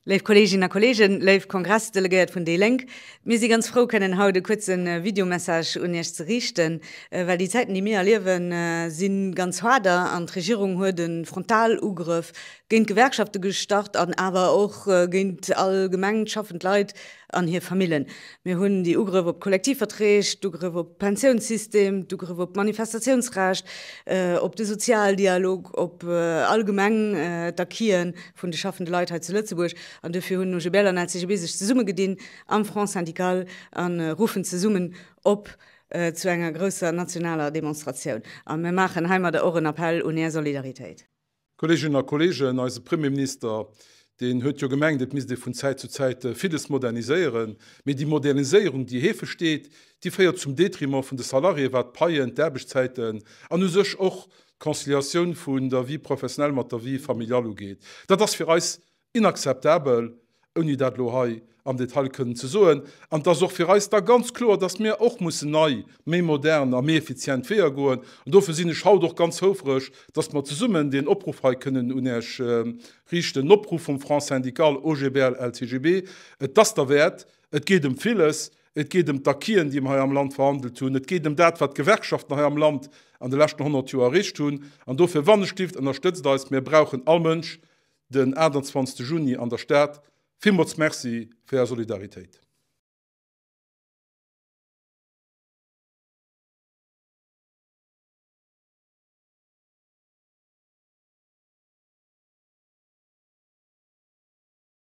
Léif Kolleeginnen a Kolleegen, léif Kongressdelegéiert vun déi Lénk, mir si ganz frou kënnen haut e kuerze Videomessage un Iech ze riichten, well déi Zäiten déi mir erliewen si ganz haarder an d'Regierung huet e Frontalugrëff géint d'Gewerkschafte gestart an awer och géint all gemengt schaffend Leit an hir Famillen. Mir hunn déi Ugrëff op d'Kollektivverträg, d'Ugrëff op d'Pensiounssystem, d'Ugrëff op d'Manifestatiounsrecht, op de Sozialdialog, op allgemeng d'Acquisen vun de schaffende Leit hei zu Lëtzebuerg an duerfir hunn OGBL an LCGB sech zesummegedinn am Front Syndical a ruffen zesummen op zu enger grousser nationaler Demonstratioun. A mir maachen heimadder och en Appell un Är Solidaritéit. Kolleeginnen a Kolleegen, eise Premierminister, deen huet jo gemengt, et misst ee vun Zäit zu Zäit villes moderniséieren, mee déi Moderniséierung, déi hee versteet, déi féiert zum Detriment vun de Salariéen, wat d'Paien, d'Aarbechtszäiten an u sech och d'Conciliatioun vun der Vie professionnelle mat der Vie familiale ugeet. Dat ass fir eis inakzeptabel, ouni dat elo hei am Detail kënnen ze soen. An et ass och fir eis da ganz kloer, dass mir och mussen nei, méi modern a méi effizient Weeër goen. An dofir sinn ech haut och ganz houfreg, dass mer zesummen deen Opruff hei kënnen un Iech richten, en Opruff vum Front syndical OGBL-LCGB. Et ass derwäert, et geet ëm villes, Et geet ëm d'Acquisen, déi mer hei am Land verhandelt hunn. Et geet ëm dat, wat d'Gewerkschaften hei am Land an de leschten 100 Joer erreecht hunn. An dofir, wann e stifft, ënnerstëtzt eis. Mir brauchen all Mënsch den 28 Juni an der Stad. Villmools Merci fir Är Solidaritéit.